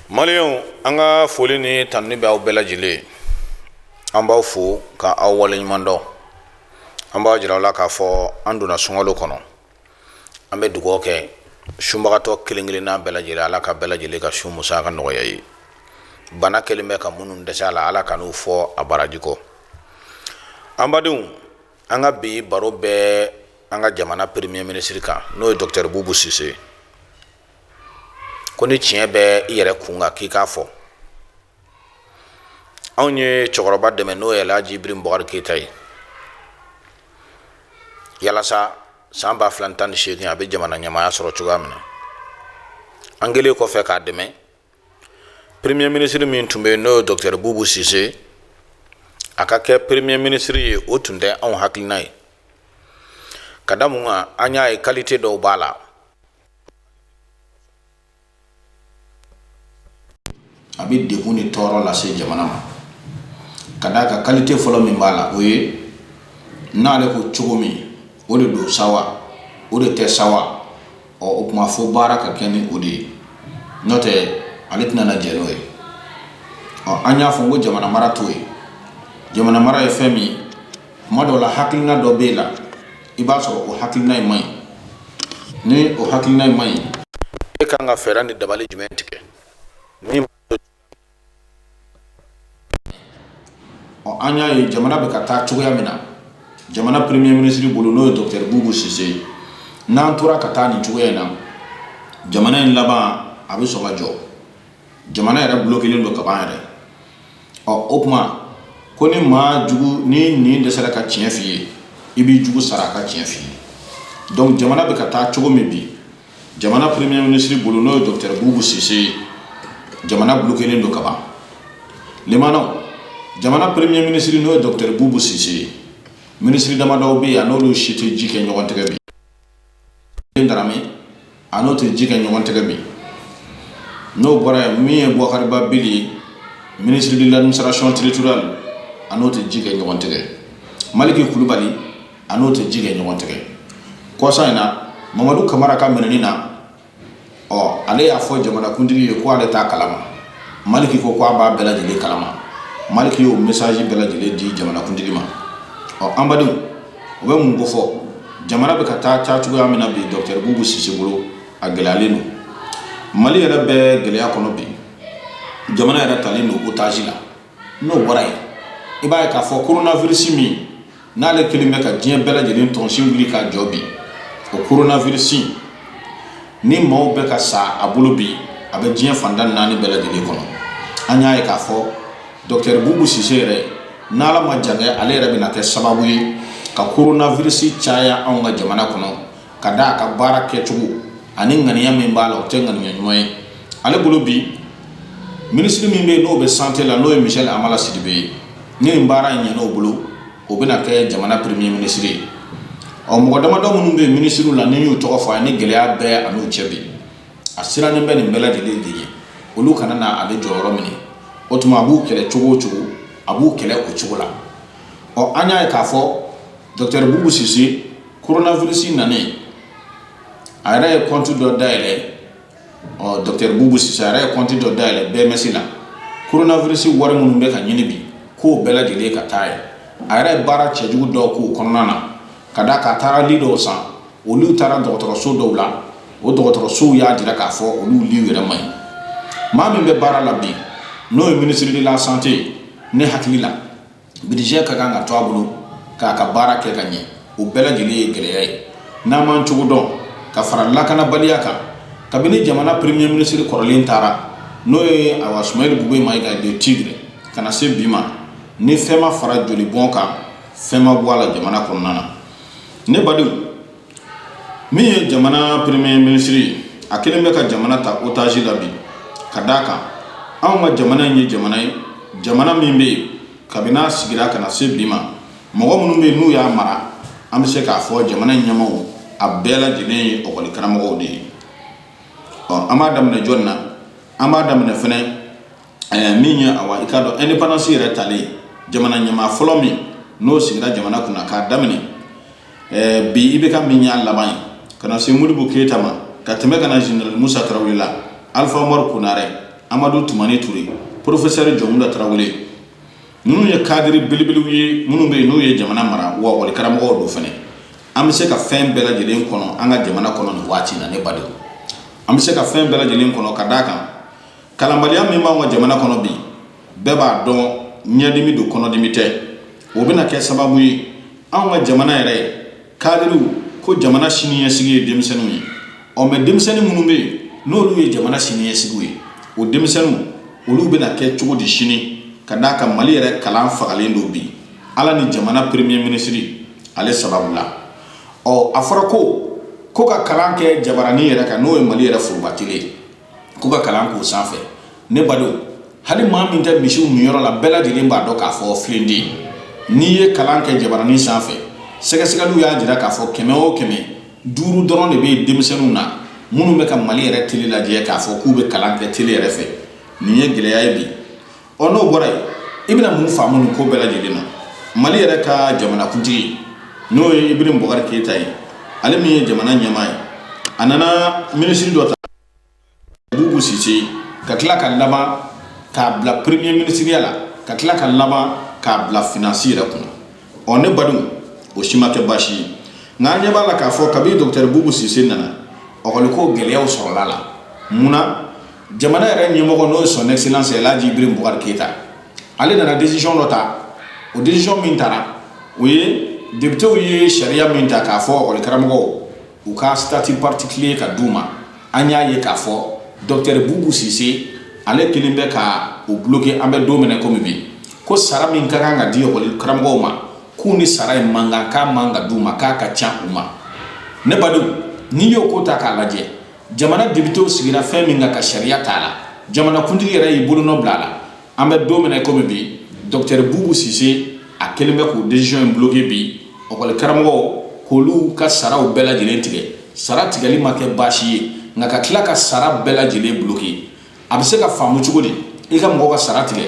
maliyɛnw an ka foli ni tanuni bɛ aw bɛɛ lajɛlen an b'aw fo ka aw waleɲuman dɔn an b'a jira aw la k'a fɔ an donna sunkalo kɔnɔ an bɛ dugawu kɛ sunbagatɔ kelen kelenna bɛɛ lajɛlen ala ka bɛɛ lajɛlen ka sun musaka nɔgɔya a ye bana kɛlen bɛ ka minnu dɛsɛ a la ala kan'u fɔ a baraji kɔ an badenw an ka bi baro bɛ an ka jamana premier ministre kan n'o ye docteur bubu sise ko ni tiɲɛ bɛ i yɛrɛ kun kan k'i k'a fɔ anw ye cɛkɔrɔba dɛmɛ n'o ye alhaji ibrahim bubakari keyita ye yalasa san ba fila ni tan ni seegin a bɛ jamana ɲɛmaaya sɔrɔ cogoya min na an kɛlen kɔfɛ k'a dɛmɛ premier ministre min tun bɛ yen n'o ye docteur bubu sise a ka kɛ premier ministre ye o tun tɛ anw hakilina ye ka da mun kan an y'a ye qualité dɔw b'a la a bɛ degun ni tɔɔrɔ lase jamana ma ka d'a ka qualité fɔlɔ min b'a la o ye n'ale ko cogo min o de don sa wa o de tɛ sa wa ɔ o tuma fɔ baara ka kɛ ni o de ye n'o tɛ ale tɛna na jɛn n'o ye ɔ an y'a fɔ ko jamana mara t'o ye jamana mara ye fɛn min ye kuma dɔ la hakilina dɔ b'e la i b'a sɔrɔ o hakilina in man ɲi ni o hakilina in man ɲi e kan ka fɛɛrɛ ni dabali jumɛn tigɛ min ɔ an y'a ye jamana bɛ ka taa cogoya min na jamana premier ministre bolo n'o ye docteur bubu sise ye n'an tora ka taa nin cogoya in na jamana in laban a bɛ sɔn ka jɔ jamana yɛrɛ bloquélen don kaban yɛrɛ ɔ o tuma ko ni maa jugu n'i ɲin dɛsɛra ka tiɲɛ f'i ye i b'i jugu sara a ka tiɲɛ f'i ye donc jamana bɛ ka taa cogo min bi jamana premier ministre bolo n'o ye docteur bubu sise ye jamana bloquélen don ka ban limanaw jamana premier ministre n'o ye docteur bubu sise ye ministre damadɔw bɛ yen a n'olu si tɛ ji kɛ ɲɔgɔn tɛgɛ bi Darame a n'o tɛ ji kɛ ɲɔgɔn tɛgɛ bi n'o bɔra yen min ye bubakari ba bili ye ministre de l'administration territoriale a n'o tɛ ji kɛ ɲɔgɔn tɛgɛ maliki kulubali a n'o tɛ ji kɛ ɲɔgɔn tɛgɛ kɔsa in na mamadu kamara ka minɛni na ɔ ale y'a fɔ jamanakuntigi ye ko ale t'a kalama maliki ko ko a b'a bɛɛ lajɛlen kalama maliki y'o mesaji bɛɛ lajɛlen di jamanakuntigi ma ɔ an badenw o bɛ mun kofɔ jamana bɛ ka taa taa cogoya min na bi dɔkitɛri bubu sise bolo a gɛlɛyalen don mali yɛrɛ bɛ gɛlɛya kɔnɔ bi jamana yɛrɛ talen don otazi la n'o bɔra yen i b'a ye k'a fɔ koronafirisi min n'ale kelen bɛ ka diɲɛ bɛɛ lajɛlen tɔnsin wuli ka jɔ bi o koronafirisi ni maaw bɛ ka sa a bolo bi a bɛ diɲɛ fanda naani bɛɛ lajɛlen kɔnɔ an y'a ye k'a fɔ dɔkitɛri bubu sise yɛrɛ n'ala ma jan kɛ ale yɛrɛ bɛna kɛ sababu ye ka koronafirisi caya anw ka jamana kɔnɔ ka da a ka baara kɛcogo ani ŋaniya min b'a la o tɛ ŋaniya ɲuman ye ale bolo bi minisiri min bɛ yen n'o bɛ sante la n'o ye misɛli hamala sidibe ye ni nin baara in ɲɛn'o bolo o bɛna kɛ jamana premier minisiri ye ɔ mɔgɔ damadɔ minnu bɛ minisiriw la n'i y'u tɔgɔ fɔ a ni gɛlɛya bɛ a n'u cɛ bi a sirannen bɛ nin bɛɛ lajɛlen de ye olu kana na ale jɔyɔrɔ minɛ o tuma a b'u kɛlɛ cogo o cogo a b'u kɛlɛ o cogo la ɔ an y'a ye k'a fɔ dɔkitɛri bubu sise Koronafirisi nanen a yɛrɛ ye kɔntu dɔ dayɛlɛ ɔ dɔkitɛri bubu sise a yɛrɛ ye kɔntu dɔ dayɛlɛ BMS la koronafirisi wari minnu bɛ ka ɲini bi k'o bɛɛ lajɛlen ka taa yen a yɛrɛ ye baara cɛjugu dɔ k'o kɔnɔna na ka d'a kan a taara li dɔw san olu taara dɔgɔtɔrɔso dɔw la o dɔgɔtɔrɔsow y'a jira k'a fɔ olu liw yɛrɛ man ɲi maa min bɛ baara la bi n'o ye minisiri de la sante ne hakili la Budget ka kan ka to a bolo k'a ka baara kɛ ka ɲɛ o bɛɛ lajɛlen ye gɛlɛya ye n'an m'an cogo dɔn ka fara lakanabaliya kan kabini jamana premier minisiri kɔrɔlen taara n'o ye awa sumeyilu bubɛyi mayiga le tigre ka na se bi ma ni fɛn ma fara joli bɔn kan fɛn ma bɔ a la jamana kɔnɔna na ne badenw min ye jamana premier minisiri ye a kelen bɛ ka jamana ta otaji la bi ka d'a kan anw ka jamana in ye jamana ye jamana min bɛ yen kabini a sigira ka na se bi ma mɔgɔ minnu bɛ yen n'u y'a mara an bɛ se k'a fɔ jamana in ɲɛmaaw a bɛɛ lajɛlen ye ɔkɔli karamɔgɔw de ye ɔ an b'a daminɛ jɔni na an b'a daminɛ fɛnɛ min ye awa i k'a dɔn ɛndepandansi yɛrɛ talen jamana ɲɛmaa fɔlɔ min n'o sigira jamana kunna k'a daminɛ ɛɛ bi IBK min y'a laban ye ka na se modibo keyita ma ka tɛmɛ ka na zenerali musa tarawele la alifa umaru konarɛ amadu tumani ture porofesɛri jɔnkunda tarawele ninnu ye kadiri belebelew ye minnu bɛ yen n'u ye jamana mara wa wali karamɔgɔ don fana an bɛ se ka fɛn bɛɛ lajɛlen kɔnɔ an ka jamana kɔnɔ nin waati na ne badenw an bɛ se ka fɛn bɛɛ lajɛlen kɔnɔ ka d'a kan kalanbaliya min b'an ka jamana kɔnɔ bi bɛɛ b'a dɔn ɲɛdimi don kɔnɔdimi tɛ o bɛna kɛ sababu ye anw ka jamana yɛrɛ kadiriw ko jamana siniɲɛsigi ye denmisɛnninw ye ɔ mɛ denmisɛnnin minnu bɛ yen n'olu ye jamana siniɲɛsigiw ye o denmisɛnninw olu bɛna kɛ cogo di sini ka d'a kan mali yɛrɛ kalan fagalen don bi ala ni jamana premier minisiri ale sababu la ɔ a fɔra ko ko ka kalan kɛ jabarani yɛrɛ kan n'o ye mali yɛrɛ foroba tele ye k'u ka kalan k'o sanfɛ ne badenw hali maa min tɛ misiw minyɔrɔ la bɛɛ lajɛlen b'a dɔn k'a fɔ filenden n'i ye kalan kɛ jabaranin sanfɛ sɛgɛsɛgɛliw y'a jira k'a fɔ kɛmɛ o kɛmɛ duuru dɔrɔn de bɛ yen denmisɛnninw na minnu bɛ ka mali yɛrɛ tele lajɛ k'a fɔ k'u bɛ kalan kɛ tele yɛrɛ fɛ nin ye gɛlɛya ye bi ɔ n'o bɔra yen i bɛna mun faamu nin ko bɛɛ lajɛlen na mali yɛrɛ ka jamanakuntigi n'o ye Ibrahim Boubacar Keita ye ale min ye jamana ɲɛmaa ye a nana minisiri dɔ ta bubu sise ka tila ka laban k'a bila premier minisiriya la ka tila ka laban k'a bila finansi yɛrɛ kunna ɔ ne badenw o si ma kɛ baasi ye nka an ɲɛ b'a la k'a fɔ kabi dɔkitɛri bubu sise nana ɔkɔliko gɛlɛyaw sɔrɔla la mun na jamana yɛrɛ ɲɛmɔgɔ n'o ye son excellence El Hadji Ibrahim Boubacar Keita ale nana décision dɔ ta o décision min tara o ye députéw ye sariya min ta k'a fɔ ɔkɔli karamɔgɔw u ka statut particulier ka d'u ma an y'a ye k'a fɔ docteur Boubou Cissé ale kelen bɛ ka o bloquer an bɛ don min na komi bi ko sara min ka kan ka di ɔkɔli karamɔgɔw ma k'u ni sara in man kan k'a man ka d'u ma k'a ka ca u ma ne badenw n'i y'o ko ta k'a lajɛ jamana depitew sigira fɛn min kan ka sariya t'a la jamanakuntigi yɛrɛ y'i bolonɔ bila a la an bɛ don min na komi bi dɔkitɛri bubu sise a kelen bɛ k'o desizɔn in bloke bi ɔkɔli karamɔgɔw k'olu ka saraw bɛɛ lajɛlen tigɛ sara tigɛli ma kɛ baasi ye nka ka tila ka sara bɛɛ lajɛlen bloke a bɛ se ka faamu cogo di i ka mɔgɔ ka sara tigɛ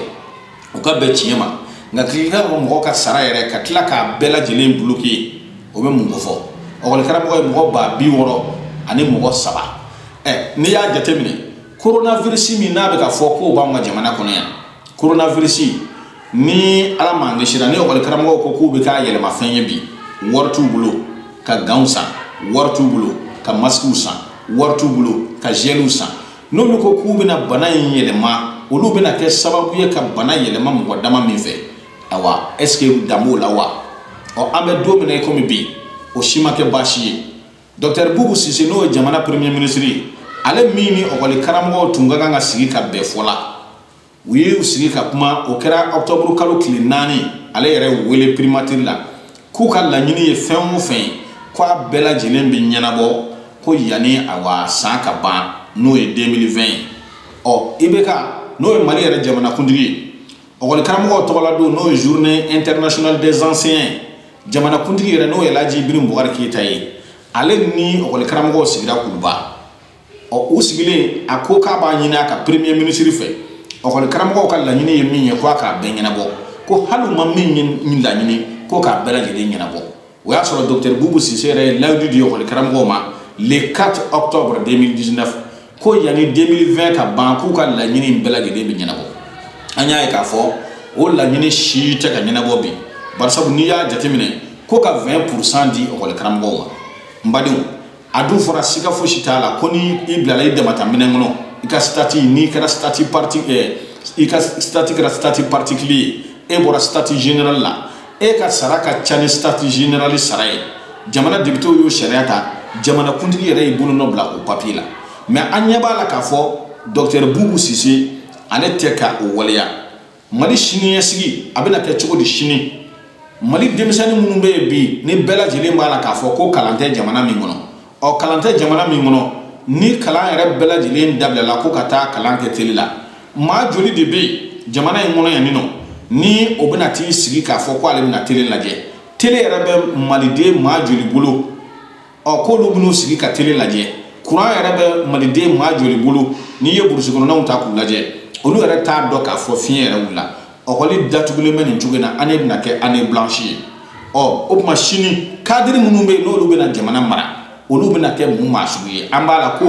o ka bɛn tiɲɛ ma nka k'i ka mɔgɔ ka sara yɛrɛ ka tila k'a bɛɛ lajɛlen bloke o bɛ mun ko fɔ ɔkɔlikaramɔgɔ ye mɔgɔ ba bi wɔɔrɔ ani mɔgɔ saba ɛ n'i y'a jateminɛ koronavirisi min n'a bɛ ka fɔ k'o b'an ka jamana kɔnɔ yan koronavirisi ni ala m'an kisira ni ɔkɔlikaramɔgɔw ko k'u bɛ k'a yɛlɛmafɛn ye bi wari t'u bolo ka ganw san wari t'u bolo ka masikiw san wari t'u bolo ka zɛliw san n'olu ko k'u bɛna bana in yɛlɛma olu bɛna kɛ sababu ye ka bana yɛlɛma mɔgɔ dama min fɛ awa est ce que dan b'o la wa ɔ an bɛ don min na i komi bi o si ma kɛ baasi ye dɔktɛri bubu sise n'o ye jamana premier ministre ye ale min ni ɔkɔli karamɔgɔw tun ka kan ka sigi ka bɛn fɔ la u ye u sigi ka kuma o kɛra octobre kalo tile naani ale yɛrɛ wele primatiri la k'u ka laɲini ye fɛn o fɛn ye ko a bɛɛ lajɛlen bɛ ɲɛnabɔ ko yanni awa san ka ban n'o ye 2020 ye ɔ IBK n'o ye mali yɛrɛ jamanakuntigi ye ɔkɔlikaramɔgɔw tɔgɔla don n'o ye journée internationale des enseignants jamanakuntigi yɛrɛ n'o ye laji Ibrahim Boubacar Keita ye ale ni ɔkɔlikaramɔgɔw sigira kuluba ɔ u sigilen a ko k'a b'a ɲini a ka premier ministre fɛ ɔkɔli karamɔgɔw ka laɲini ye min ye ko a k'a bɛɛ ɲɛnabɔ ko hali u ma min laɲini ko k'a bɛɛ lajɛlen ɲɛnabɔ o y'a sɔrɔ docteur bubu sise yɛrɛ ye layidu di ɔkɔli karamɔgɔw ma le 4 octobre 2019 ko yanni 2020 ka ban k'u ka laɲini in bɛɛ lajɛlen bɛ ɲɛnabɔ an y'a ye k'a fɔ o laɲini si tɛ ka ɲɛnabɔ bi barisabu n'i y'a jateminɛ ko ka 20 pourcent di ɔkɔli karamɔgɔw ma n badenw a dun fɔra siga fosi t'a la ko ni i bilala i dama ta minɛn kɔnɔ i ka statut n'i kɛra statut parti eh, i ka statut kɛra statut particulier ye e bɔra statut général la e ka sara ka ca ni statut général sara ye jamana depitew y'o sariya ta jamana kuntigi yɛrɛ y'i bolonɔ bila o papiye la mɛ an ɲɛ b'a la k'a fɔ docteur bubu sise ale tɛ ka o waleya mali siniɲɛsigi a bɛna kɛ cogo di sini mali denmisɛnnin minnu bɛ yen bi ni bɛɛ lajɛlen b'a la k'a fɔ ko kalan tɛ jamana min kɔnɔ ɔ kalan tɛ jamana min kɔnɔ ni kalan yɛrɛ bɛɛ lajɛlen dabilala ko ka taa kalan kɛ tele la maa joli de bɛ yen jamana in kɔnɔ yan nin nɔ ni o bɛna t'i sigi k'a fɔ ko ale bɛna tele lajɛ tele yɛrɛ bɛ maliden maa joli bolo ɔ k'olu bɛn'u sigi ka tele lajɛ kuran yɛrɛ bɛ maliden maa joli bolo n'i ye burusi kɔnɔnaw ta k'u lajɛ olu yɛrɛ t'a dɔn k'a fɔ fiɲɛ yɛrɛ wulila ɔkɔli datugulen bɛ nin cogo in na année bɛna kɛ année blanche ye ɔ o tuma sini kadiri minnu bɛ yen n'olu bɛna jamana mara olu bɛna kɛ mun maa sugu ye an b'a la ko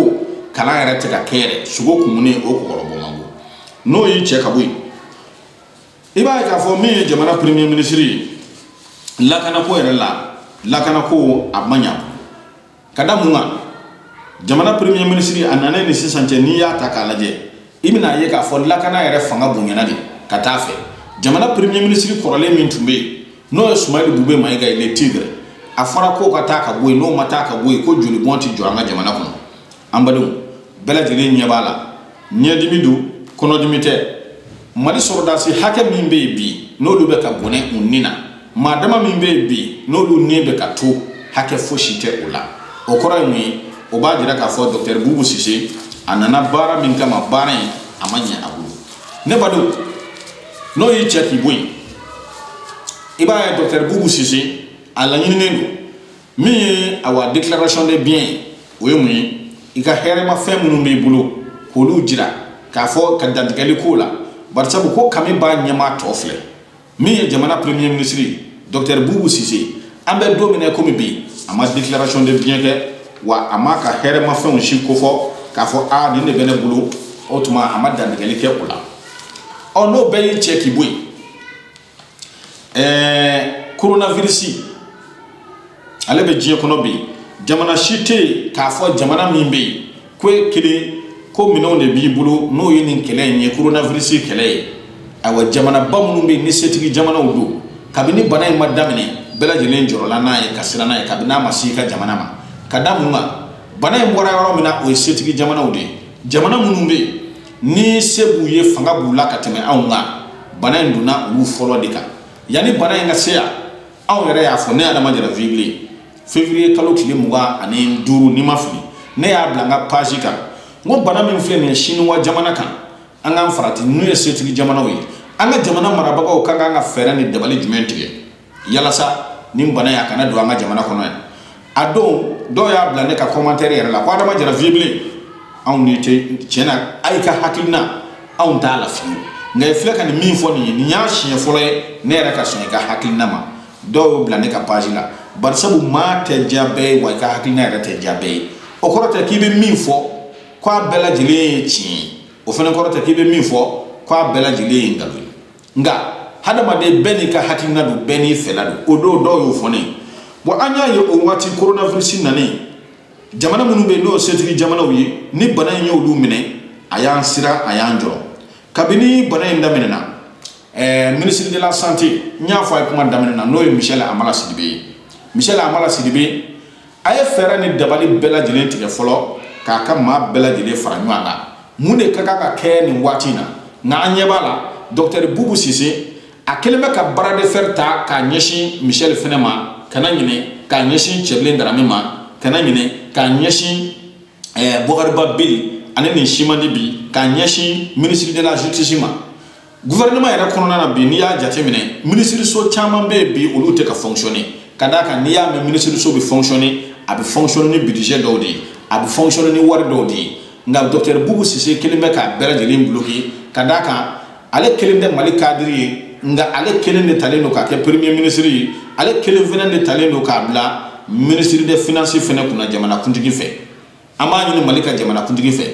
kalan yɛrɛ tɛ ka kɛ yɛrɛ sogo kumunen o kɔkɔrɔbɔ man go n'o y'i cɛ ka bɔ yen i b'a ye k'a fɔ min ye jamana premier ministre ye lakanako yɛrɛ la lakanako a ma ɲa ka da mun kan jamana premier ministre a nanen ni sisan cɛ n'i y'a ta k'a lajɛ i bɛn'a ye k'a fɔ lakana yɛrɛ fanga bonyana de ka t'a fɛ jamana premier ministre kɔrɔlen min tun bɛ yen n'o ye sumayili bube mayiga ye le tigre a fɔra ko k'a ta ka bɔ yen n'o ma ta ka bɔ yen ko jolibɔn tɛ jɔ an ka jamana kɔnɔ an badenw bɛɛ lajɛlen ɲɛ b'a la ɲɛdimi don kɔnɔdimi tɛ mali sɔrɔdasi hakɛ min bɛ yen bi n'olu bɛ ka bɔnɛ u ni na maa dama min bɛ yen bi n'olu ni bɛ ka to hakɛ fosi tɛ o la o kɔrɔ ye mun ye o b'a jira k'a fɔ dɔkitɛri bubu sise a nana baara min kama baara in a ma ɲɛ a bolo ne badenw n'o y'i cɛ k'i bɔ yen i b'a ye dɔkitɛri bubu sise a laɲininen don min ye awa déclaration de bien ye o ye mun ye i ka hɛrɛmafɛn minnu b'i bolo k'olu jira k'a fɔ ka dantigɛli k'o la barisabu ko kami b'a ɲɛmaa tɔn filɛ min ye jamana premier ministre ye docteur bubu sise an bɛ don min na komi bi a ma déclaration de bien kɛ wa a m'a ka hɛrɛmafɛnw si kofɔ k'a fɔ a nin de bɛ ne bolo o tuma a ma dantigɛli kɛ o la ɔ n'o bɛɛ y'i cɛ k'i bɔ yen Ɛɛ coronavirus ale bɛ diɲɛ kɔnɔ bi jamana si tɛ yen k'a fɔ jamana min bɛ yen ko e kelen ko minɛnw de b'i bolo n'o ye nin kɛlɛ in ye coronavirus kɛlɛ ye ayiwa jamanaba minnu bɛ yen ni setigi jamanaw don kabini bana in ma daminɛ bɛɛ lajɛlen jɔrɔla n'a ye ka siran n'a ye kabini n'a ma se i ka jamana ma ka da mun kan bana in bɔra yɔrɔ min na o ye setigi jamanaw de ye jamana minnu bɛ yen ni se b'u ye fanga b'u la ka tɛmɛ anw kan bana in donna olu fɔlɔ de kan yanni bana in ka se yan anw yɛrɛ y'a fɔ ne adama jara vie bilen février kalo tile mugan ani duuru ni n ma fili ne y'a bila n ka page kan n ko bana min filɛ nin ye siniwa jamana kan an k'an farati n'u ye setigi jamanaw ye an ka jamana marabagaw ka kan ka fɛɛrɛ ni dabali jumɛn tigɛ yalasa nin bana in a kana don an ka jamana kɔnɔ yan a don dɔw y'a bila ne ka commentaire yɛrɛ la ko adama jara vie bilen anw n'i tɛ tiɲɛ na a y'i ka hakilina anw t'a la fiyewu nka i filɛ ka nin min fɔ nin ye nin y'a siɲɛ fɔlɔ ye ne yɛrɛ ka sɔn i ka hakilina ma dɔw y'o bila ne ka page la barisabu maa tɛ diya bɛɛ ye wa i ka hakilina yɛrɛ tɛ diya bɛɛ ye o kɔrɔ tɛ k'i bɛ min fɔ k'a bɛɛ lajɛlen ye tiɲɛ ye o fɛnɛ kɔrɔ tɛ k'i bɛ min fɔ k'a bɛɛ lajɛlen ye nkalon ye nka hadamaden bɛɛ n'i ka hakilina don bɛɛ n'i fɛla don o don dɔw y'o fɔ ne ye bɔn an y'a ye o waati koronavirisi nanen jamana minnu bɛ yen n'o setigi jamanaw ye ni bana in y'olu minɛ a y'an siran a y'an jɔrɔ kabini bana in daminɛna eh, ministre de la santé n y'a fɔ a ye kuma daminɛ na n'o ye michel hamala sidibe ye michel hamala sidibe a ye fɛɛrɛ ni dabali bɛɛ lajɛlen tigɛ fɔlɔ k'a ka maa bɛɛ lajɛlen fara ɲɔgɔn kan mun de ka kan ka kɛ nin waati in na nka an ɲɛ b'a la dɔkitɛri bubu sise a kelen bɛ ka bras de fer ta k'a ɲɛsin michel fɛnɛ ma kana ɲinɛ k'a ɲɛsin cɛbilen daramɛ ma kana ɲinɛ k'a ɲɛsin bɔkari ba bili a ni nin si man di bi k'a ɲɛsin ministre de la justice ma gouvernement yɛrɛ kɔnɔna na bi n'i y'a jateminɛ minisiriso caman bɛ yen bi olu tɛ ka fonctionner ka d'a kan n'i y'a mɛn minisiriso bɛ fonctionner a bɛ fonctionner ni budget dɔw de ye a bɛ fonctionner ni wari dɔw de ye nka docteur bubu sise kelen bɛ k'a bɛɛ lajɛlen bloquer ka d'a kan ale kelen tɛ mali cadre ye nka ale kelen de talen don k'a kɛ premier ministre ye ale kelen fɛnɛ de talen don k'a bila ministre de finance fɛnɛ kunna jamanakuntigi fɛ an b'a ɲini mali ka jamanakuntigi fɛ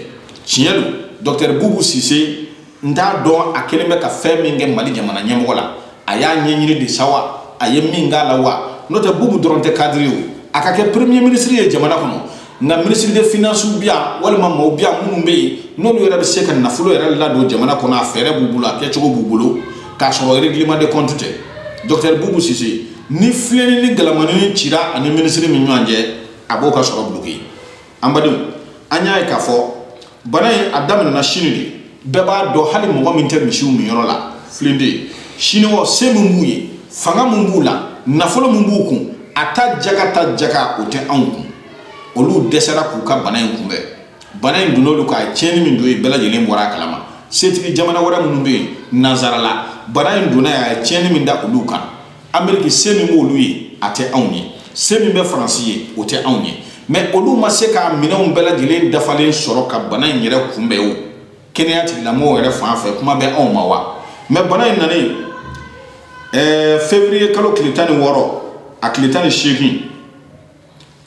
tiɲɛ don dɔktɛr bubu sise n t'a dɔn a kelen bɛ ka fɛn min kɛ mali jamana ɲɛmɔgɔ la a y'a ɲɛɲini de sa wa a ye min k'a la wa n'o tɛ bubu dɔrɔn tɛ cadre o a ka kɛ premier ministre ye jamana kɔnɔ nka minisiri de finansiw bi yan walima maaw bi yan minnu bɛ yen n'olu yɛrɛ bɛ se ka nafolo yɛrɛ ladon jamana kɔnɔ a fɛɛrɛ b'u bolo a kɛcogo b'u bolo k'a sɔrɔ règlement de compte tɛ dɔktɛr bubu sise ni filennin ni galamanin cira ani minisiri min ɲɔgɔn cɛ a b'o ka sɔrɔ bloqué an badenw an y'a ye k'a fɔ bana in a daminɛna sini de bɛɛ b'a dɔn hali mɔgɔ min tɛ misiw minyɔrɔ la filen tɛ siniwaw se min b'u ye fanga min b'u la nafolo min b'u kun a ta jaga ta jaga o tɛ anw kun olu dɛsɛra k'u ka bana in kunbɛn bana in donn'olu kan tiɲɛni min don yen bɛɛ lajɛlen bɔra a kalama setigi jamana wɛrɛ minnu bɛ yen nansarala bana in donna a ye tiɲɛni min da olu kan ameriki se min b'olu ye a tɛ anw ye se min bɛ faransi ye o tɛ anw ye mɛ olu ma se ka minɛnw bɛɛ lajɛlen dafalen sɔrɔ ka bana in yɛrɛ kunbɛn o kɛnɛya tigilamɔgɔw yɛrɛ fan fɛ kuma bɛ anw ma wa mɛ bana in nanen ɛɛ fevriye kalo tile tan ni wɔɔrɔ a tile tan ni seegin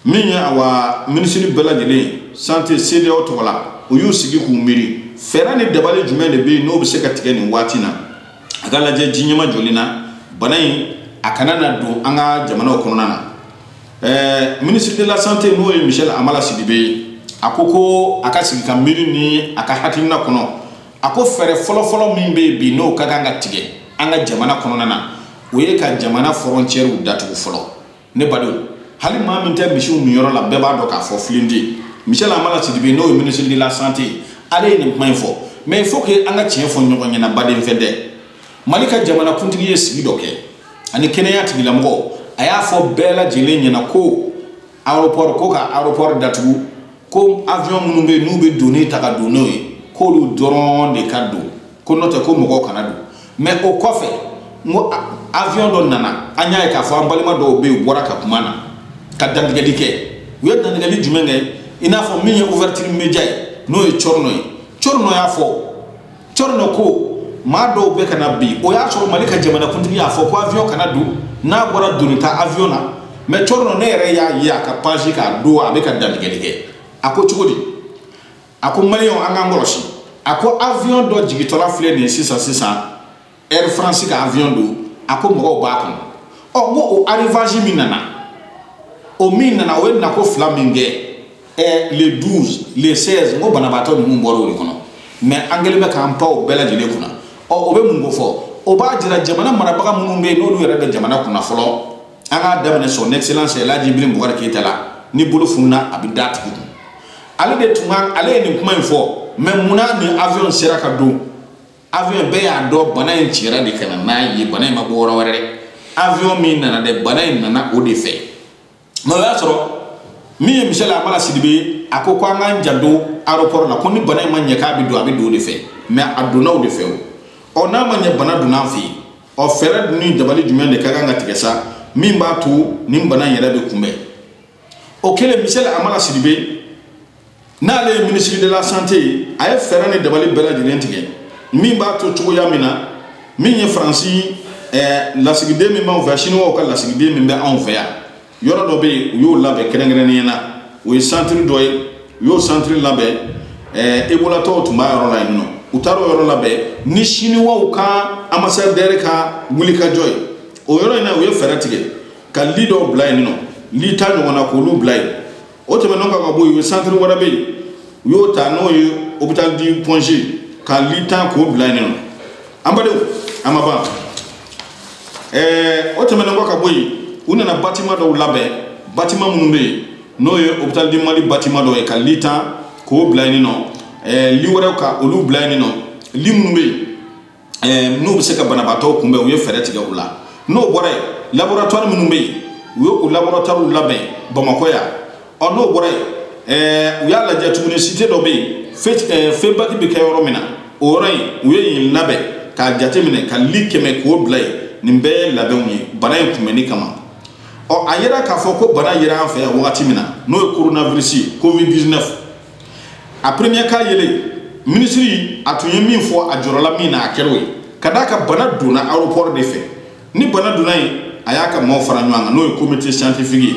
min ye awa minisiri bɛɛ lajɛlen ye santé cedeao tɔgɔ la u y'u sigi k'u miiri fɛɛrɛ ni dabali jumɛn de bɛ yen n'o bɛ se ka tigɛ nin waati na a ka lajɛ ji ɲɛma joli na bana in a kana na don an ka jamanaw kɔnɔna na ɛɛ ministre de la santé n'o ye michel hamala sidibe ye a ko ko a ka sigi ka miiri ni a ka hakilina kɔnɔ a ko fɛɛrɛ fɔlɔfɔlɔ min bɛ yen bi n'o ka kan ka tigɛ an ka jamana kɔnɔna na o ye ka jamana fɔrɔncɛriw datugu fɔlɔ ne badenw hali maa min tɛ misiw minyɔrɔ la bɛɛ b'a dɔn k'a fɔ filen tɛ michel hamala sidibe n'o ye ministre de la santé ale ye nin kuma in fɔ mais il faut que an ka tiɲɛ fɔ ɲɔgɔn ɲɛna baden fɛn tɛ mali ka jamana kuntigi ye sigi dɔ kɛ ani kɛnɛya tigilamɔgɔw a y'a fɔ bɛɛ lajɛlen ɲɛna ko aéroport ko ka aéroport datugu ko avion minnu bɛ yen n'u bɛ doni ta ka don n'o ye k'olu dɔrɔn de ka don ko n'o tɛ ko mɔgɔw kana don mɛ o kɔfɛ n ko avion dɔ nana an y'a ye k'a fɔ an balima dɔw bɛ yen u bɔra ka kuma na ka dantigɛli kɛ u ye dantigɛli jumɛn kɛ i n'a fɔ min ye ouverture média ye n'o ye thierno ye thierno y'a fɔ thierno ko maa dɔw bɛ ka na bi o y'a sɔrɔ mali ka jamanakuntigi y'a fɔ ko avion kana don n'a bɔra doni ta avion na mɛ thierno ne yɛrɛ y'a ye a ka page kan don a bɛ ka dantigɛli kɛ a ko cogo di a ko maliyɛnw an k'an kɔlɔsi a ko avion dɔ jigitɔla filɛ nin ye sisan sisan air france ka avion don a ko mɔgɔw b'a kɔnɔ ɔ n ko o arrivage min nana o min nana o ye nako fila min kɛ ɛ le 12 le 16 n ko banabaatɔ ninnu bɔra o de kɔnɔ mɛ an kɛlen bɛ k'an pan o bɛɛ lajɛlen kunna ɔ o bɛ mun ko fɔ o b'a jira jamana marabaga minnu bɛ yen n'olu yɛrɛ bɛ jamana kunna fɔlɔ an k'a daminɛ son excellence elhaji ibrahim boubacar keita la ni bolo fununa a bɛ da tigi kun ale de tun ka ale ye nin kuma in fɔ mɛ munna nin avion sera ka don avion bɛɛ y'a dɔn bana in cira de ka na n'a ye bana in ma bɔ yɔrɔ wɛrɛ dɛ avion min nana dɛ bana in nana o de fɛ mɛ o y'a sɔrɔ min ye michel hamala sidibe a ko ko an k'an janto aéroport la ko ni bana in ma ɲɛ k'a bɛ don a bɛ don o de fɛ mɛ a donna o de fɛ o ɔ n'a ma ɲɛ bana donna an fɛ yen ɔ fɛɛrɛ ni dabali jumɛn de ka kan ka tigɛ sa min b'a to nin bana in yɛrɛ bɛ kunbɛn o kɛlen Michel Amala Sidibe n'ale ye minisiri de la santé ye a ye fɛɛrɛ ni dabali bɛɛ lajɛlen tigɛ min b'a to cogoya min na min ye faransi eh, lasigiden min b'anw fɛ siniwaw ka lasigiden min bɛ anw fɛ yan yɔrɔ dɔ bɛ yen u y'o labɛn kɛrɛnkɛrɛnnenya na o ye santiri dɔ ye u y'o santiri labɛn eh, ebolatɔw tun b'a yɔrɔ la yen nɔ u taara o yɔrɔ labɛn ni siniwaw ka anbasadɛri ka wulikajɔ ye o yɔrɔ in na u ye fɛɛrɛ tigɛ ka li dɔw bila yen nɔ li tan ɲɔgɔnna k'olu bila yen o tɛmɛnen kɔ ka bɔ yen santiri wɛrɛ bɛ yen u y'o ta n'o ye hôpital du Point G ka li tan k'o bila yen nɔ an badenw a ma ban ɛɛ o tɛmɛnen kɔ ka bɔ yen u nana batima dɔw labɛn batima minnu bɛ yen n'o ye hôpital du Mali batima dɔw ye ka li tan k'o bila yen nɔ ɛɛ li wɛrɛw ka olu bila yen nɔ li minnu bɛ yen ɛɛ n'u bɛ se ka banabaatɔw kunbɛn u ye fɛɛrɛ tigɛ u la n'o bɔra yen laboratwari minnu bɛ yen u ye o laboratwariw labɛn bamakɔ yan ɔ n'o bɔra yen ɛɛ u y'a lajɛ tuguni site dɔ bɛ yen fe ɛɛ FEBAK bɛ kɛ yɔrɔ min na o yɔrɔ in u ye yen labɛn k'a jateminɛ ka li kɛmɛ k'o bila yen nin bɛɛ ye labɛnw ye bana in kunbɛnni kama ɔ a yera k'a fɔ ko bana yera an fɛ yan wagati min na n'o ye coronavirus ye covid 19 a premier cas yelen minisiri a tun ye min fɔ a jɔrɔla min na a kɛr'o ye ka d'a kan bana donna aéroport de fɛ ni bana donna yen a y'a ka maaw fara ɲɔgɔn kan n'o ye comité scientifique ye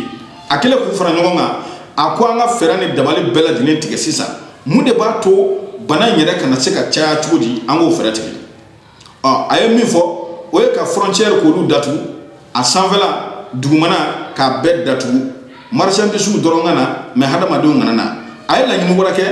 a kɛlen k'u fara ɲɔgɔn kan a ko an ka fɛɛrɛ ni dabali bɛɛ lajɛlen tigɛ sisan mun de b'a to bana in yɛrɛ kana se ka caya cogo di an k'o fɛɛrɛ tigɛ ɔ a ye min fɔ o ye ka frontière k'olu datugu a sanfɛla dugumana k'a bɛɛ datugu marchandise dɔrɔn ka na mais hadamadenw kana na a ye laɲini wɛrɛ kɛ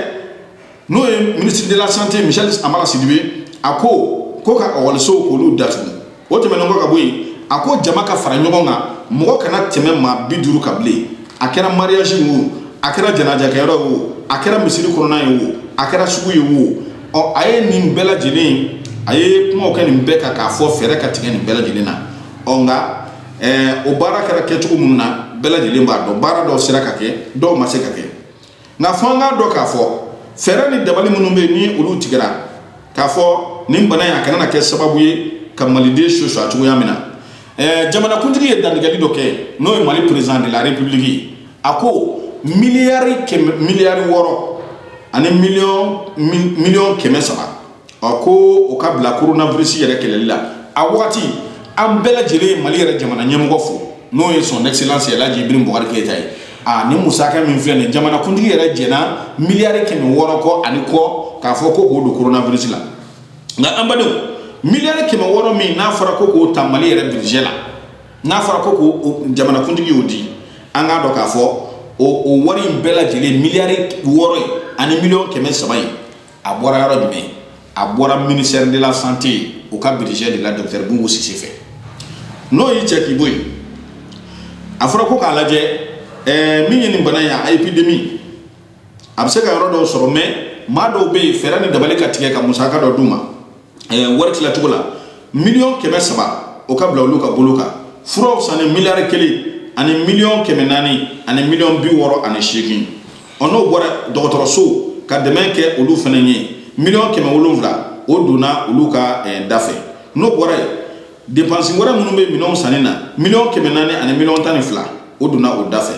n'o ye ministre de la santé Michel Amala Sidibe a ko ko ka ekɔlisow k'olu datugu o tɛmɛnen kɔ ka bɔ yen a ko jama ka fara ɲɔgɔn kan mɔgɔ kana tɛmɛ maa bi duuru kan bilen a kɛra mariage ye o a kɛra janajakɛyɔrɔ ye o a kɛra misiri kɔnɔna ye o a kɛra sugu ye o ɔ a ye nin bɛɛ lajɛlen a ye kumaw kɛ nin bɛɛ kan k'a fɔ fɛɛrɛ ka tigɛ nin bɛɛ lajɛlen na ɔ nka o baara kɛra kɛcogo minnu na bɛɛ lajɛlen b'a dɔn baara dɔw sera ka kɛ dɔw ma se ka kɛ nka fɔ an k'a dɔn k'a fɔ fɛɛrɛ ni dabali minnu bɛ yen ni olu tigɛra k'a fɔ nin bana in a kana na kɛ sababu ye ka maliden soso a cogoya min na Ɛɛ jamanakuntigi ye dantigɛli dɔ kɛ n'o ye mali perezidan de la republiki a ko miliyari wɔɔrɔ ani miliyɔn kɛmɛ saba a ko o ka bila coronavirus yɛrɛ kɛlɛli la a waati an bɛɛ lajɛlen ye mali yɛrɛ jamana ɲɛmɔgɔ fo n'o ye son excellence El Hadj Ibrahim Boubacar Keïta ye a ni musaka min filɛ nin jamanakuntigi yɛrɛ jɛnna miliyari kɛmɛ wɔɔrɔ kɔ ani kɔ k'a fɔ ko o don coronavirus la nka an badenw miliyari kɛmɛ wɔɔrɔ min n'a fɔra ko k'o ta mali yɛrɛ budget la n'a fɔra ko k'o jamanakuntigi y'o di an k'a dɔn k'a fɔ o o wari in bɛɛ lajɛlen miliyari wɔɔrɔ ani miliyɔn kɛmɛ saba in a bɔra yɔrɔ jumɛn a bɔra ministère de la santé o ka budget de la docteur Boubou Cissé fɛ n'o y'i cɛ k'i bɔ yen a fɔra ko k'a lajɛ ɛɛ min ye nin bana ye a épidémie a bɛ se ka yɔrɔ dɔw sɔrɔ mais maa dɔw bɛ yen fɛɛrɛ ni dabali ka tigɛ ka musaka dɔ d'u ma wari tilacogo la miliyɔn kɛmɛ saba o ka bila olu ka bolo kan furaw sanni miliyari kelen ani miliyɔn kɛmɛ naani ani miliyɔn bi wɔɔrɔ ani seegin ɔ n'o bɔra dɔgɔtɔrɔsow ka dɛmɛ kɛ olu fana ye miliyɔn kɛmɛ wolonwula o donna olu ka da fɛ n'o bɔra yen dépense wɛrɛ minnu bɛ minɛnw sanni na miliyɔn kɛmɛ naani ani miliyɔn tan ni fila o donna o da fɛ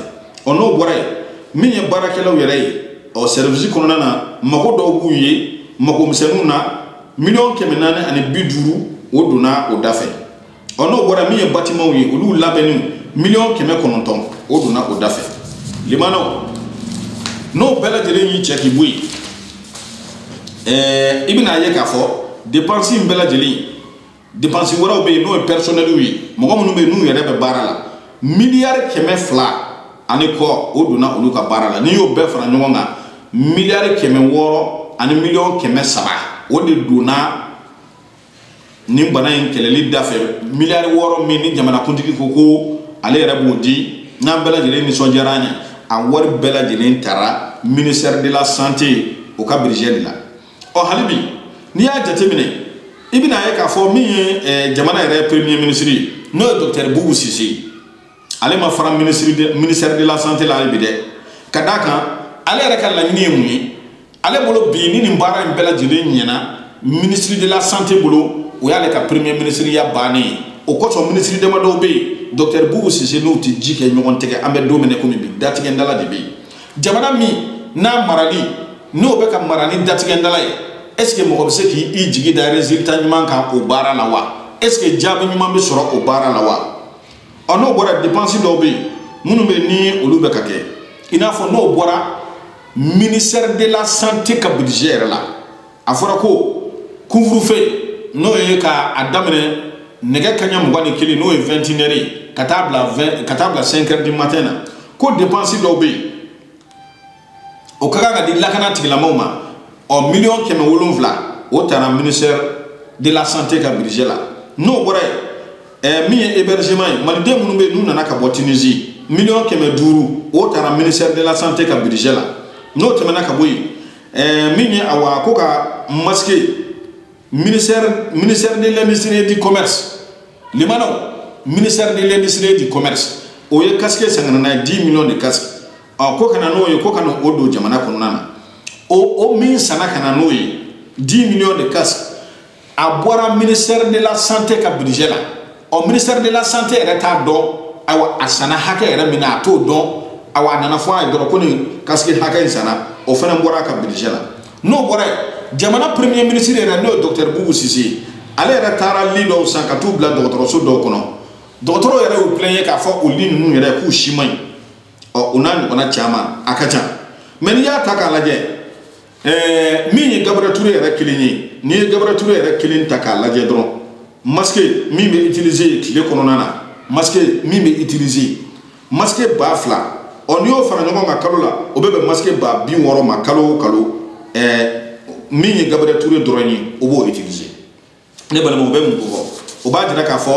ɔ n'o bɔra yen min ye baarakɛlaw yɛrɛ ye ɔ service kɔnɔna na mago dɔw b'u ye mago misɛnninw na miliyɔn kɛmɛ naani ani bi duuru o donna o da fɛ ɔ n'o bɔra min ye bâtiments ye olu labɛnni miliyɔn kɛmɛ kɔnɔntɔn o donna o da fɛ limanaw n'o bɛɛ lajɛlen y'i cɛ k'i bɔ yen ɛɛ i bɛna ye k'a fɔ dépense in bɛɛ lajɛlen Dépenses wɛrɛw bɛ yen n'o ye personnels ye mɔgɔ minnu bɛ yen n'u yɛrɛ bɛ baara la miliyari kɛmɛ fila ani kɔ o donna olu ka baara la n'i y'o bɛɛ fara ɲɔgɔn kan miliyari kɛmɛ wɔɔrɔ ani miliyɔn kɛmɛ saba o de donna nin bana in kɛlɛli da fɛ miliyari wɔɔrɔ min ni jamanakuntigi ko ko ale yɛrɛ b'o di n'an bɛɛ lajɛlen nisɔndiyara an ye a wari bɛɛ lajɛlen taara ministère de la santé o ka budget de la ɔ hali bi n'i y'a jateminɛ i bɛna ye k'a fɔ min ye eh, jamana yɛrɛ premier ministre ye n'o ye docteur Boubou Cissé ye ale ma fara ministère de la santé la hali bi dɛ ka d'a kan ale yɛrɛ ka laɲini ye mun ye ale bolo bi ni nin baara in bɛɛ lajɛlen ɲɛna ministre de la santé bolo o y'ale ka premier ministre ya bannen ye o kosɔn ministre damadɔw bɛ yen docteur Boubou Cissé n'u tɛ ji kɛ ɲɔgɔn tɛgɛ an bɛ don min na komi bi datigɛndala de bɛ yen jamana min n'a marali n'o bɛ ka mara ni datigɛndala ye est-ce que mɔgɔ bɛ se k'i jigi da résultat ɲuman kan o baara la wa est-ce que jaabi ɲuman bɛ sɔrɔ o baara la wa ɔ n'o bɔra dépense dɔw bɛ yen minnu bɛ ni olu bɛ ka kɛ i n'a fɔ n'o bɔra ministère de la santé ka budget yɛrɛ la a fɔra ko couvre-feu n'o ye ka a daminɛ nɛgɛ kaɲɛ mugan ni kelen n'o ye vingt et une heures ye ka taa bila cinq heures du matin na ko dépense dɔw bɛ yen o ka kan ka di lakana tigilamaw ma ɔ miliyɔn kɛmɛ wolonwula o taara ministère de la santé ka budget la n'o bɔra yen min ye hébergement ye maliden minnu bɛ n'u nana ka bɔ Tunisie miliyɔn kɛmɛ duuru o taara ministère de la santé ka budget la n'o tɛmɛna ka bɔ yen ɛɛ min ye awa ko ka masque ministère ministère de l'industrie et du commerce limanaw ministère de l'industrie et du commerce o ye casque san ka na n'a ye 10 millions de casque ɔ ko ka na n'o ye ko ka na o don jamana kɔnɔna na o o min sanna ka na n'o ye 10 millions de casque a bɔra ministère de la santé ka budget la ɔ ministère de la santé yɛrɛ t'a dɔn ayiwa a sanna hakɛ yɛrɛ min na a t'o dɔn awa a nana fɔ a ye dɔrɔn ko nin casque hakɛ in sanna o fana bɔra a ka budget la n'o bɔra yen jamana premier ministre yɛrɛ n'o ye docteur bubu sise ye ale yɛrɛ taara lit dɔw san ka t'u bila dɔgɔtɔrɔso dɔw kɔnɔ dɔgɔtɔrɔw yɛrɛ y'u plaigner k'a fɔ o lit ninnu yɛrɛ k'u si man ɲi ɔ o n'a ɲɔgɔnna caman a ka ca mais n'i y'a ta k'a lajɛ ɛɛ min ye Gabriel Toure yɛrɛ kelen ye n'i ye Gabriel Toure yɛrɛ kelen ta k'a lajɛ dɔrɔn masque min bɛ utiliser tile kɔnɔna na masque min bɛ utiliser masque ba fila ɔ n'i y'o fara ɲɔgɔn kan kalo la o bɛ bɛn masque ba bi wɔɔrɔ ma kalo o kalo ɛɛ min ye Gabriel Toure dɔrɔn ye o b'o utiliser ne balimaw o bɛ mun kofɔ o b'a jira k'a fɔ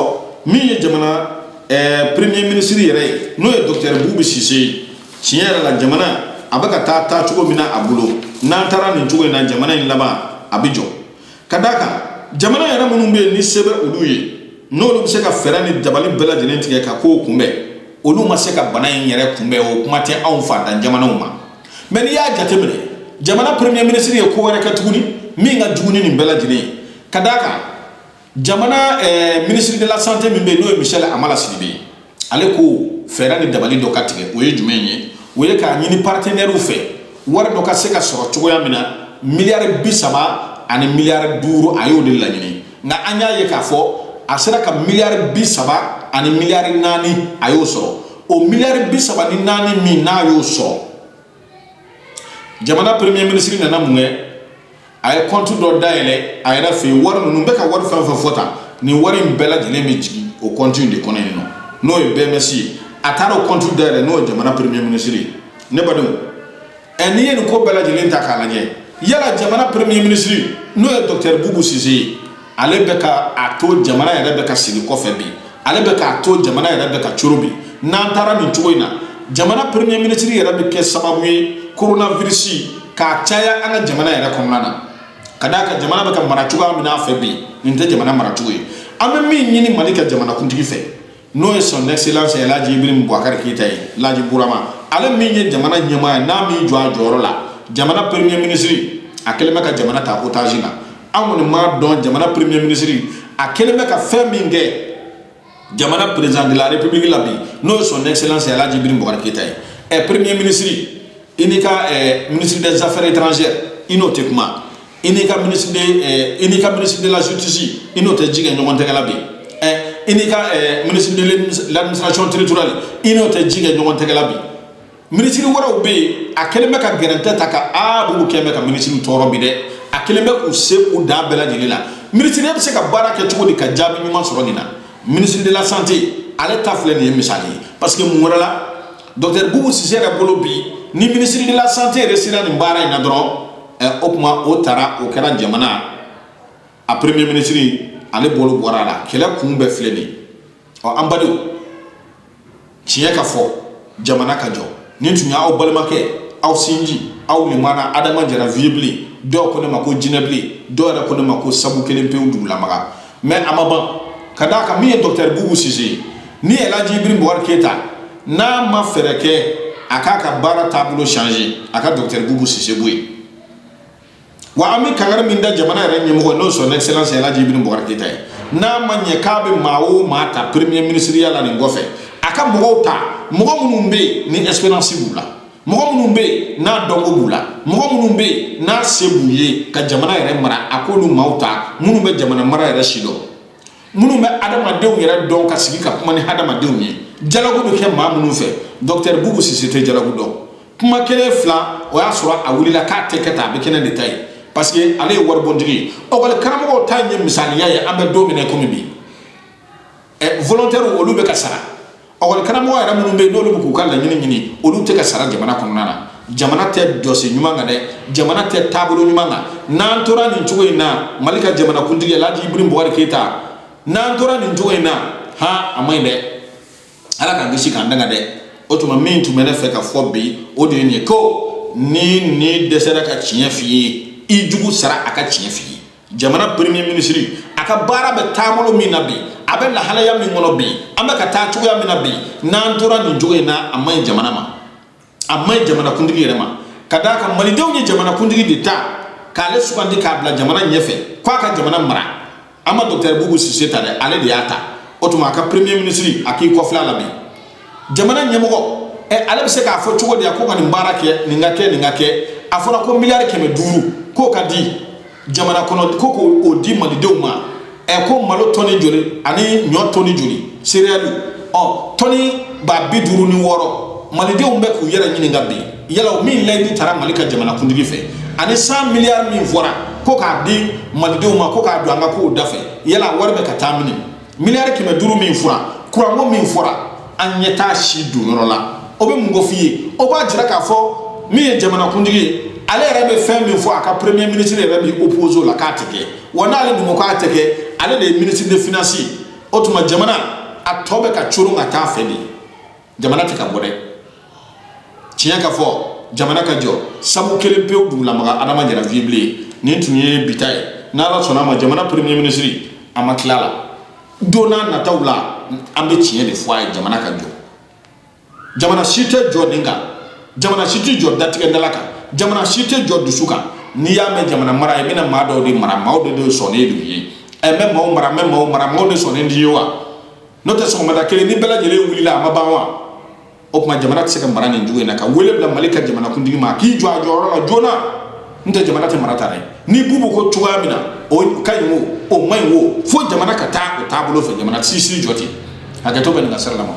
min ye jamana ɛɛ premier ministre yɛrɛ ye n'o ye docteur bubu sise ye tiɲɛ yɛrɛ la jamana a bɛ ka taa taa cogo min na a bolo n'an taara nin cogo in na jamana in laban a bɛ jɔ ka d'a kan jamana yɛrɛ minnu bɛ yen ni se bɛ olu ye n'olu bɛ se ka fɛɛrɛ ni dabali bɛɛ lajɛlen tigɛ ka kow kunbɛn olu ma se ka bana in yɛrɛ kunbɛn o kuma tɛ anw faantan jamanaw ma mais n'i y'a jateminɛ jamana premier ministre ye ko wɛrɛ kɛ tuguni min ka jugu ni nin bɛɛ lajɛlen ye ka d'a kan jamana eh, ministre de la santé min bɛ yen n'o ye Michel Hamala Sidibé ye ale ko fɛɛrɛ ni dabali dɔ ka tigɛ o ye jumɛn ye o ye k'a ɲini partenaires fɛ wari dɔ ka se ka sɔrɔ cogoya min na miliyari bi saba ani miliyari duuru a y'o de laɲini nka an y'a ye k'a fɔ a sera ka miliyari bi saba ani miliyari naani a y'o sɔrɔ o miliyari bi saba ni naani min n'a y'o sɔrɔ jamana premier minisiri nana mun kɛ a ye kɔnti dɔ dayɛlɛ a yɛrɛ fɛ yen wari ninnu bɛ ka wari fɛn o fɛn fɔ tan nin wari in bɛɛ lajɛlen bɛ jigin o kɔnti in de kɔnɔ yen nɔ n'o ye BMS ye a taara o kɔnti dayɛlɛ n'o ye jamana premier minisiri ye ne badenw ɛ n'i ye nin ko bɛɛ lajɛlen ta k'a lajɛ yala jamana premier ministre n'o ye docteur bubu sise ye ale bɛ ka a to jamana yɛrɛ bɛ ka segin kɔfɛ bi ale bɛ k'a to jamana yɛrɛ bɛ ka coron bi n'an taara nin cogo in na jamana premier ministre yɛrɛ bɛ kɛ sababu ye coronavirus ka caya an ka jamana yɛrɛ kɔnɔna na ka d'a kan jamana bɛ ka mara cogoya min n'a fɛ bi nin tɛ jamana maracogo ye an bɛ min ɲini Mali ka jamanakuntigi fɛ n'o ye son excellence Elhaji Ibrahim Boubacar Keita ye Laji Bourama ale min ye jamana ɲɛmaa ye n'a m'i jɔ a jɔyɔrɔ la jamana premier ministre a kɛlen bɛ ka jamana ta otage la an kɔni m'a dɔn jamana premier ministre a kɛlen bɛ ka fɛn min kɛ jamana président de la république la bi n'o ye son excellence Elhaji Ibrahim Boubacar Keita ye ɛ premier ministre i n'i ka ministre des affaires étrangères i n'o tɛ kuma i n'i ka minisiri de eh, i n'i ka minisiri de la justice i n'o tɛ ji kɛ ɲɔgɔn tɛgɛ la bi eh, i n'i ka eh, minisiri de l'administration territoriale i n'o tɛ ji kɛ ɲɔgɔn tɛgɛ la bi minisiri wɛrɛw bɛ yen a kɛlen bɛ ka gɛrɛntɛ ta ka a b'olu kɛlen bɛ ka minisiri tɔɔrɔ bi dɛ a kɛlen bɛ k'u se u dan bɛɛ lajɛlen la minisiri bɛ se ka baara kɛ cogo di ka jaabi ɲuman sɔrɔ nin na minisiri de la santé ale ta filɛ nin ye misali ye parce que mun wɛrɛ la docteur bubu sise yɛrɛ bolo bi ni minisiri de la santé yɛrɛ sera nin baara in na dɔrɔn o tuma o taara o kɛra jamana a premier minisiri ale bolo bɔra a la kɛlɛ kun bɛɛ filɛ nin ɔ an badenw tiɲɛ ka fɔ jamana ka jɔ nin tun y'aw balimakɛ aw sinji aw nin mana adama jara vieux bilen dɔw ko ne ma ko jinɛ bilen dɔw yɛrɛ ko ne ma ko sabu kelen pewu dugu lamaga mais a ma ban ka d'a kan min ye dɔktɛri bubu sise ye ni elaji ibrahim bubakari keyita n'a ma fɛɛrɛ kɛ a k'a ka baara taabolo changer a ka dɔktɛri bubu sise bɔ yen wa an bɛ kangari min da jamana yɛrɛ ɲɛmɔgɔ ye n'o son excellence elaji ibrahim bubakari keyita ye n'a ma ɲɛ k'a bɛ maa o maa ta premier ministriya la nin kɔfɛ a ka mɔgɔw ta mɔgɔ minnu bɛ yen ni expérience b'u la mɔgɔ minnu bɛ yen n'a dɔnko b'u la mɔgɔ minnu bɛ yen n'a se b'u ye ka jamana yɛrɛ mara a k'olu maaw ta minnu bɛ jamana mara yɛrɛ sidɔn minnu bɛ adamadenw yɛrɛ dɔn ka sigi ka kuma ni adamadenw ye dialogue bɛ kɛ maa minnu fɛ dɔkitɛri bubu sise tɛ dialogue dɔn kuma kelen fila o y'a sɔrɔ a wulila k'a tɛ kɛ tan a bɛ kɛ ne de ta ye parce que ale ye waribontigi ye lɛkɔli karamɔgɔw ta in ye misaliya ye an bɛ don min na komi bi volontaire olu bɛ ka sara lɛkɔli karamɔgɔ yɛrɛ minnu bɛ yen n'olu bɛ k'u ka laɲini ɲini olu tɛ ka sara jamana kɔnɔna na jamana tɛ jɔsen ɲuman kan dɛ jamana tɛ taabolo ɲuman kan n'an tora nin cogo in na mali ka jamanakuntigi alhaji ibrahim bubakari keyita n'an tora nin cogo in na ha a man ɲi dɛ ala k'an kisi k'an tanga dɛ o tuma min tun bɛ ne fɛ ka fɔ bi o de ye nin ye ko n'i ɲin dɛsɛra ka tiɲɛ f'i ye i jugu sara a ka tiɲɛ f'i ye jamana premier minisiri a ka baara bɛ taabolo min na bi a bɛ lahalaya min kɔnɔ bi an bɛ ka taa cogoya min na bi n'an tora nin cogo in na a man ɲi jamana ma a man ɲi jamanakuntigi yɛrɛ ma ka d'a kan malidenw ye jamanakuntigi de ta k'ale sugandi k'a bila jamana ɲɛfɛ k'a ka jamana mara an ma dɔkitɛri bubu sise ta dɛ ale de y'a ta o tuma a ka premier minisiri a k'i kɔfilɛ a la bi jamana ɲɛmɔgɔ ɛ ale bɛ se k'a fɔ cogo di a ko ka nin baara kɛ nin ka kɛ nin ka kɛ a fɔra ko miliyari kɛmɛ duuru k'o ka di jamana kɔnɔ ko k'o di malidenw ma ɛ ko malo tɔni joli ani ɲɔ tɔni joli sereyaliw tɔni ba bi duuru ni wɔɔrɔ malidenw bɛ k'u yɛrɛ ɲininka bi yala o min layidu tara mali ka jamana kuntigi fɛ ani cent milliards min fɔra ko k'a di malidenw ma ko k'a don an ka kow da fɛ yala wari bɛ ka taa min miliyari kɛmɛ duuru min fɔra kuranko min fɔra an ɲɛ t'a si donyɔrɔ la o bɛ mun kof'i ye o b'a jira k'a fɔ min ye jamanakuntigi ye ale yɛrɛ bɛ fɛn min fɔ a ka premier ministre yɛrɛ bɛ oppose o la k'a tɛ kɛ wa n'ale dun ko k'a tɛ kɛ ale de ye ministre de finance ye o tuma jamana a tɔ bɛ ka coron ka taa fɛ de jamana tɛ ka bɔ dɛ tiɲɛ ka fɔ jamana ka jɔ sabu kelen pewu dugulamaga adama jara vieux blen nin tun ye bi ta ye n'ala sɔnna a ma jamana premier minisiri a ma tila la don nataw la an bɛ tiɲɛ de fɔ a ye jamana ka jɔ jamana si tɛ jɔ nin kan jamana si tɛ jɔ datigɛdala kan jamana si tɛ jɔ dusu kan n'i y'a mɛn jamana mara e bɛna maa dɔw de mara maa dɔw de sɔnnen don i ye ɛ n bɛ maaw mara n bɛ maaw mara maaw de sɔnnen don i ye wa n'o tɛ sɔgɔmada kelen ni bɛɛ lajɛlen wulila a ma ban wa o tuma jamana tɛ se ka mara nin cogo in na ka wele bila mali ka jamanakuntigi ma k'i jɔ a jɔyɔrɔ la joona n'o tɛ jamana tɛ mara tan dɛ ni bubu ko cogoya min na o ka ɲi o o man ɲi o fo jamana ka taa o taabolo fɛ jamana si tɛ jɔ ten hakɛto bɛ nin ka sira la ma